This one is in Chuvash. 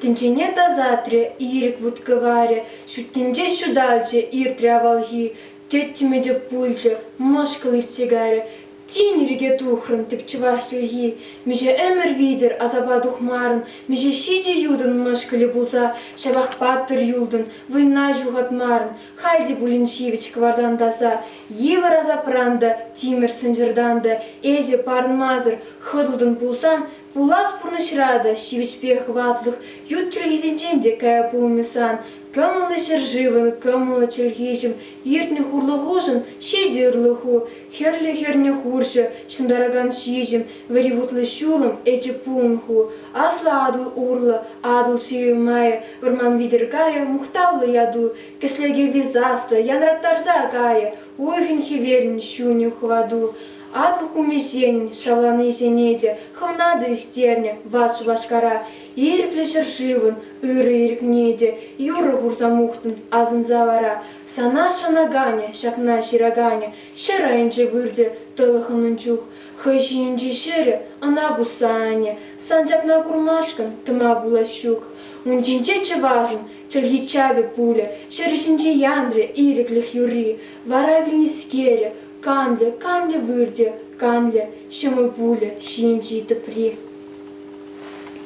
Тӗнчене тасатрӗ, ирӗк вут-кӑварӗ ҫӳттинче ҫуталчӗ, иртрӗ авалхи, тӗттӗмӗ те пулчӗ, мӑшкӑл иртсе кайрӗ. Тин ирӗке тухрӑн, тӗпчӗвах чӗлхи, миҫе ӗмӗр витӗр асапа тухмарӑн, миҫе ҫичӗ ютӑн мӑшкӑлӗ пулса ҫапах паттӑр юлтӑн, вӑйна ҫухатмарӑн. Халь те пулин ҫивӗч кӑвартан таса, йывӑр асапран та, тимӗр сӑнчӑртан та эсӗ парӑнмасӑр хӑтӑлтӑн пулсан, пулас пурнӑҫра та ҫивӗчпе хӑватлӑх ют чӗлхисенчен те кая пулмӗ сан. Кӑмӑллӑ ҫӗршывӑн, кӑмӑллӑ чӗлхеҫӗм, иртнӗ хурлӑхушӑн ҫичӗ ырлӑху, хӗрлӗ хӗрнӗ хурҫӑ, ҫунтаракан ҫиҫӗм, вӗри вутлӑ ҫулӑм ӗчӗ пулнӑху. Аслӑ Атӑл урлӑ, Атӑл ҫивӗмайӗ, вӑрман витӗр кайӗ мухтавлӑ яту, кӗслеке висаслӑ, янраттарса кайӗ уйӑхӗн хӗверӗн ҫунӗ хӑвату. Аслӑ кумисен шавланисене те хӑвнатӑ ӳстернӗ ват Шупашкара. Ирӗклӗ ҫӗршывӑн ырӑ ирӗкне те юрӑ хурса мухтӑн асӑнса вара. Сана шанаканӗ, ҫакна ҫыраканӗ ҫӗр айӗнче выртӗ тӑлӑхӑнӑн чух. Хӑй ҫийӗнчи ҫӗрӗ ӑна пусса анӗ. Сан ҫакна курмашкӑн тӑма пулас ҫук. Ун ҫинче чӑвашӑн чӗлхи чапӗ пулӗ, ҫӗр ҫинче янрӗ ирӗклӗх юрри. Вара вилнӗскерӗ, канлӗ, канлӗ выртӗ, канлӗ ҫӑмӑл пулӗ ҫийӗнчи тӑпри.